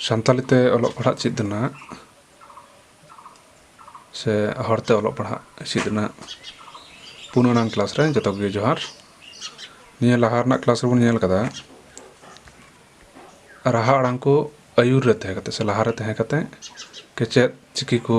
ᱥᱟᱱᱛᱟᱞᱤ ᱛᱮ ᱚᱞᱚᱜ ᱯᱟᱲᱦᱟᱜ ᱪᱮᱫ ᱨᱮᱱᱟᱜ ᱥᱮ ᱦᱚᱲᱛᱮ ᱚᱞᱚᱜ ᱯᱟᱲᱦᱟᱜ ᱪᱮᱫ ᱨᱮᱱᱟᱜ ᱯᱩᱱ ᱟᱱᱟᱝ ᱠᱞᱟᱥ ᱨᱮ ᱡᱚᱛᱚ ᱜᱮ ᱡᱚᱦᱟᱨ ᱱᱤᱭᱟᱹ ᱞᱟᱦᱟ ᱨᱮᱱᱟᱜ ᱠᱞᱟᱥ ᱨᱮᱵᱚᱱ ᱧᱮᱞ ᱠᱟᱫᱟ ᱨᱟᱦᱟ ᱟᱲᱟᱝ ᱠᱚ ᱟᱹᱭᱩᱨ ᱨᱮ ᱛᱟᱦᱮᱸ ᱠᱟᱛᱮ ᱥᱮ ᱞᱟᱦᱟᱨᱮ ᱛᱟᱦᱮᱸ ᱠᱟᱛᱮ ᱠᱮᱪᱮᱫ ᱪᱤᱠᱤ ᱠᱚ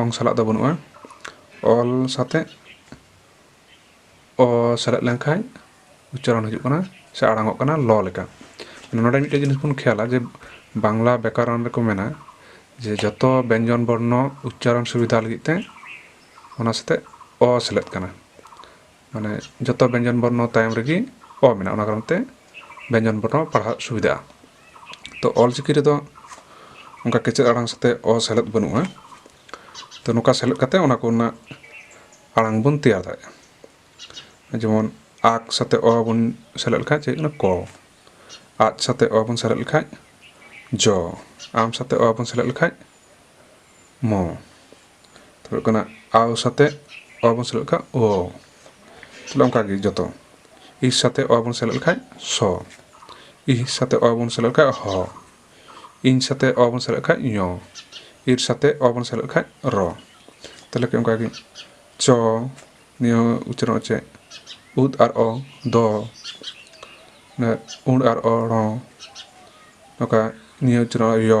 ᱚᱝ ᱥᱟᱞᱟᱜ ᱫᱚ ᱵᱟᱹᱱᱩᱜᱼᱟ ᱚᱞ ᱥᱟᱛᱮᱜ ᱚ ᱥᱮᱞᱮᱫ ᱞᱮᱱᱠᱷᱟᱱ ᱩᱪᱪᱟᱨᱚᱱ ᱦᱤᱡᱩᱜ ᱠᱟᱱᱟ ᱥᱮ ᱟᱲᱟᱝᱚᱜ ᱠᱟᱱᱟ ᱞᱚ ᱞᱮᱠᱟ ᱱᱚᱰᱮ ᱢᱤᱫᱴᱮᱱ ᱡᱤᱱᱤᱥ ᱵᱚᱱ ᱠᱷᱮᱭᱟᱞᱟ ᱡᱮ ᱵᱟᱝᱞᱟ ᱵᱮᱠᱟᱨᱚᱱ ᱨᱮᱠᱚ ᱢᱮᱱᱟ ᱡᱮ ᱡᱚᱛᱚ ᱵᱮᱧᱡᱚᱱ ᱵᱚᱨᱱᱚ ᱩᱪᱪᱟᱨᱚᱱ ᱥᱩᱵᱤᱫᱷᱟ ᱞᱟᱹᱜᱤᱫ ᱛᱮ ᱚᱱᱟ ᱥᱟᱛᱮᱜ ᱚ ᱥᱮᱞᱮᱫ ᱠᱟᱱᱟ ᱢᱟᱱᱮ ᱡᱚᱛᱚ ᱵᱮᱧᱡᱚᱱ ᱵᱚᱨᱱᱚ ᱛᱟᱭᱚᱢ ᱨᱮᱜᱮ ᱚ ᱢᱮᱱᱟᱜᱼᱟ ᱚᱱᱟ ᱠᱟᱨᱚᱱ ᱛᱮ ᱵᱮᱧᱡᱚᱱ ᱵᱚᱨᱱᱚ ᱯᱟᱲᱦᱟᱜ ᱥᱩᱵᱤᱫᱷᱟᱜᱼᱟ ᱛᱚ ᱚᱞ ᱪᱤᱠᱤ ᱨᱮᱫᱚ ᱚᱱᱠᱟ ᱠᱮᱪᱮᱫ ᱟᱲᱟᱝ ᱥᱟᱛᱮᱜ ᱚ ᱥᱮᱞᱮᱫ ᱵᱟᱹᱱᱩᱜᱼᱟ ᱛᱚ ᱱᱚᱝᱠᱟ ᱥᱮᱞᱮᱫ ᱠᱟᱛᱮ ᱚᱱᱟ ᱠᱚᱨᱮᱱᱟᱜ ᱟᱲᱟᱝ ᱵᱚᱱ ᱛᱮᱭᱟᱨ ᱫᱟᱲᱮᱭᱟᱜᱼᱟ ᱡᱮᱢᱚᱱ ᱟᱜ ᱥᱟᱛᱮᱜ ᱚ ᱵᱚᱱ ᱥᱮᱞᱮᱫ ᱞᱮᱠᱷᱟᱡ ᱪᱮᱫ ᱦᱩᱭᱩᱜ ᱠᱟᱱᱟ ᱠᱚ ᱟᱡ ᱥᱟᱛᱮᱜ ᱚ ᱵᱚᱱ ᱥᱮᱞᱮᱫ ᱞᱮᱠᱷᱟᱡ ᱡᱚ ᱟᱢ ᱥᱟᱛᱮᱜ ᱚ ᱵᱚᱱ ᱥᱮᱞᱮᱫ ᱞᱮᱠᱷᱟᱡ ᱢᱚ ᱛᱚ ᱦᱩᱭᱩᱜ ᱠᱟᱱᱟ ᱟᱣ ᱥᱟᱛᱮ ᱚ ᱵᱚᱱ ᱥᱮᱞᱮᱫ ᱞᱮᱠᱷᱟᱱ ᱚ ᱛᱟᱦᱚᱞᱮ ᱚᱱᱠᱟ ᱜᱮ ᱡᱚᱛᱚ ᱤ ᱥᱟᱛᱮ ᱚ ᱵᱚᱱ ᱥᱮᱞᱮᱫ ᱞᱮᱠᱷᱟᱱ ᱥᱚ ᱤ ᱥᱟᱛᱮ ᱚ ᱵᱚᱱ ᱥᱮᱞᱮᱫ ᱞᱮᱠᱷᱟᱱ ᱦᱚ ᱤᱧ ᱥᱟᱛᱮ ᱚ ᱵᱚᱱ ᱥᱮᱞᱮᱫ ᱞᱮᱠᱷᱟᱱ ᱧᱚ ᱤᱨ ᱥᱟᱛᱮ ᱚ ᱵᱚᱱ ᱥᱮᱞᱮᱫ ᱞᱮᱠᱷᱟᱱ ᱨᱚ ᱛᱟᱦᱚᱞᱮ ᱠᱷᱟᱱ ᱚᱱᱠᱟ ᱜᱮ ᱪᱚ ᱱᱤᱭᱟᱹ ᱩᱪᱟᱨᱚᱱ ᱪᱮᱫ ᱩᱫ ᱟᱨ ᱚ ᱫᱚ ᱩᱬ ᱟᱨ ᱚ ᱨᱚ ᱱᱚᱝᱠᱟ ᱱᱤᱭᱟᱹ ᱩᱪᱟᱨᱚᱱ ᱭᱚ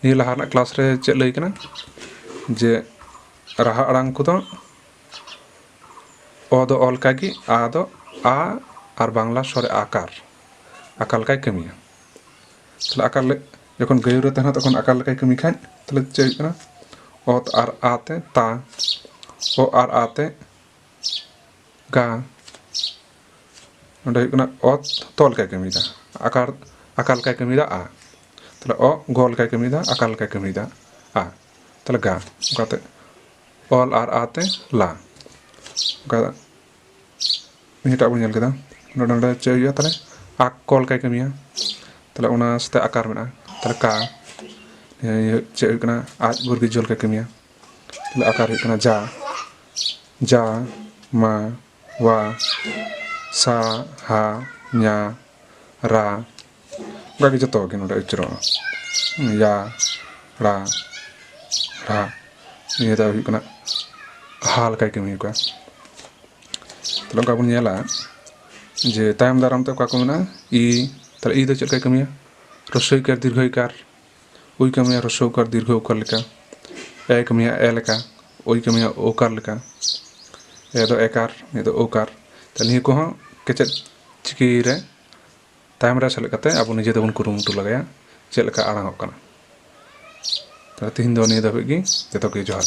ᱱᱤᱭᱟᱹ ᱞᱟᱦᱟ ᱨᱮᱱᱟᱜ ᱠᱞᱟᱥ ᱨᱮ ᱪᱮᱫ ᱞᱟᱹᱭ ᱠᱟᱱᱟ ᱡᱮ ᱨᱟᱦᱟ ᱟᱲᱟᱝ ᱠᱚᱫᱚ ᱚ ᱫᱚ ᱚ ᱞᱮᱠᱟ ᱜᱮ ᱟ ᱫᱚ ᱟ ᱟᱨ ᱵᱟᱝᱞᱟ ᱥᱚᱨᱮ ᱟᱠᱟᱨ ᱟᱠᱟᱨ ᱞᱮᱠᱟᱭ ᱠᱟᱹᱢᱤᱭᱟ ᱛᱟᱦᱞᱮ ᱟᱠᱟᱨ ᱡᱚᱠᱷᱚᱱ ᱜᱟᱹᱭᱩ ᱨᱮ ᱛᱟᱦᱮᱱᱟ ᱛᱚᱠᱷᱚᱱ ᱟᱠᱟᱨ ᱞᱮᱠᱟᱭ ᱠᱟᱹᱢᱤ ᱠᱷᱟᱡ ᱛᱟᱦᱞᱮ ᱪᱮᱫ ᱦᱩᱭᱩᱜ ᱠᱟᱱᱟ ᱚᱛ ᱟᱨ ᱟ ᱛᱮ ᱛᱟ ᱚ ᱟᱨ ᱟ ᱛᱮ ᱜᱟ ᱱᱚᱰᱮ ᱦᱩᱭᱩᱜ ᱠᱟᱱᱟ ᱚ ᱛᱚ ᱞᱮᱠᱟᱭ ᱠᱟᱹᱢᱤᱭᱮᱫᱟ ᱟᱠᱟᱨ ᱟᱠᱟ ᱞᱮᱠᱟᱭ ᱠᱟᱹᱢᱤᱭᱮᱫᱟ ᱟ ᱛᱟᱦᱚᱞᱮ ᱚ ᱜᱚ ᱞᱮᱠᱟᱭ ᱠᱟᱹᱢᱤᱭᱮᱫᱟ ᱟᱠᱟ ᱞᱮᱠᱟᱭ ᱠᱟᱹᱢᱤᱭᱮᱫᱟ ᱟ ᱛᱟᱦᱚᱞᱮ ᱜᱟ ᱚᱱᱠᱟᱛᱮ ᱚᱞ ᱟᱨ ᱟ ᱛᱮ ᱞᱟ ᱚᱱᱠᱟ ᱱᱤᱭᱟᱹᱴᱟᱜ ᱵᱚᱱ ᱧᱮᱞ ᱠᱮᱫᱟ ᱱᱚᱰᱮ ᱱᱚᱰᱮ ᱪᱮᱫ ᱦᱩᱭᱩᱜᱼᱟ ᱛᱟᱦᱚᱞᱮ ᱟᱠ ᱠᱚ ᱞᱮᱠᱟᱭ ᱠᱟᱹᱢᱤᱭᱟ ᱛᱟᱦᱚᱞᱮ ᱚᱱᱟ ᱥᱟᱛᱮ ᱟᱠᱟᱨ ᱢᱮᱱᱟᱜᱼᱟ ᱛᱟᱦᱚᱞᱮ ᱠᱟ ᱪᱮᱫ ᱦᱩᱭᱩᱜ ᱠᱟᱱᱟ ᱟᱡ ᱵᱚᱨᱜᱤ ᱡᱚᱞ ᱞᱮᱠᱟᱭ ᱠᱟᱹᱢᱤᱭᱟ ᱛᱟᱦᱚᱞᱮ ᱟᱠᱟᱨ ᱦᱩᱭᱩᱜ ᱠᱟᱱᱟ ᱡᱟ ᱡᱟ ᱢᱟ ᱣᱟ ᱥᱟ ᱦᱟ ᱧᱟ ᱨᱟ ᱚᱱᱠᱟ ᱜᱮ ᱡᱚᱛᱚ ᱜᱮ ᱱᱚᱰᱮ ᱩᱪᱟᱹᱨᱚᱜᱼᱟ ᱭᱟ ᱲᱟ ᱨᱟ ᱱᱤᱭᱟᱹ ᱫᱚ ᱦᱩᱭᱩᱜ ᱠᱟᱱᱟ ᱦᱟ ᱞᱮᱠᱟᱭ ᱠᱟᱹᱢᱤ ᱟᱠᱟᱫᱟ ᱛᱟᱦᱞᱮ ᱚᱱᱠᱟ ᱵᱚᱱ ᱧᱮᱞᱟ ᱡᱮ ᱛᱟᱭᱚᱢ ᱫᱟᱨᱟᱢ ᱛᱮ ᱚᱠᱟ ᱠᱚ ᱢᱮᱱᱟᱜᱼᱟ ᱤ ᱛᱟᱦᱞᱮ ᱤ ᱫᱚ ᱪᱮᱫ ᱞᱮᱠᱟᱭ ᱠᱟᱹᱢᱤᱭᱟ ᱨᱚᱥᱳᱭᱠᱟᱨ ᱫᱤᱨᱜᱷᱚᱭᱠᱟᱨ ᱳᱭ ᱠᱟᱹᱢᱤᱭᱟ ᱦᱨᱚᱥᱥᱚ ᱩᱠᱟᱨ ᱫᱤᱨᱜᱷᱚ ᱩᱠᱟᱨ ᱞᱮᱠᱟ ᱮ ᱠᱟᱹᱢᱤᱭᱟ ᱮ ᱞᱮᱠᱟ ᱳᱭ ᱠᱟᱹᱢᱤᱭᱟ ᱳ ᱠᱟᱨ ᱞᱮᱠᱟ ᱮ ᱫᱚ ᱮᱠᱟᱨ ᱱᱤᱭᱟᱹ ᱫᱚ ᱳᱠᱟᱨ ᱛᱟᱦᱚᱞᱮ ᱱᱤᱭᱟᱹ ᱠᱚᱦᱚᱸ ᱠᱮᱪᱮᱫ ᱪᱤᱠᱤ ᱨᱮ ᱛᱟᱭᱚᱢ ᱨᱮ ᱥᱮᱞᱮᱫ ᱠᱟᱛᱮ ᱟᱵᱚ ᱱᱤᱡᱮ ᱛᱮᱵᱚᱱ ᱠᱩᱨᱩᱢᱩᱴᱩ ᱞᱮᱜᱟᱭᱟ ᱪᱮᱫ ᱞᱮᱠᱟ ᱟᱲᱟᱝ ᱚᱜ ᱠᱟᱱᱟ ᱛᱟᱦᱚᱞᱮ ᱛᱮᱦᱮᱧ ᱫᱚ ᱱᱤᱭᱟᱹ ᱫᱷᱟᱹᱵᱤᱡ ᱜᱮ ᱡᱚᱛᱚ ᱠᱚᱜᱮ ᱡᱚᱦᱟᱨ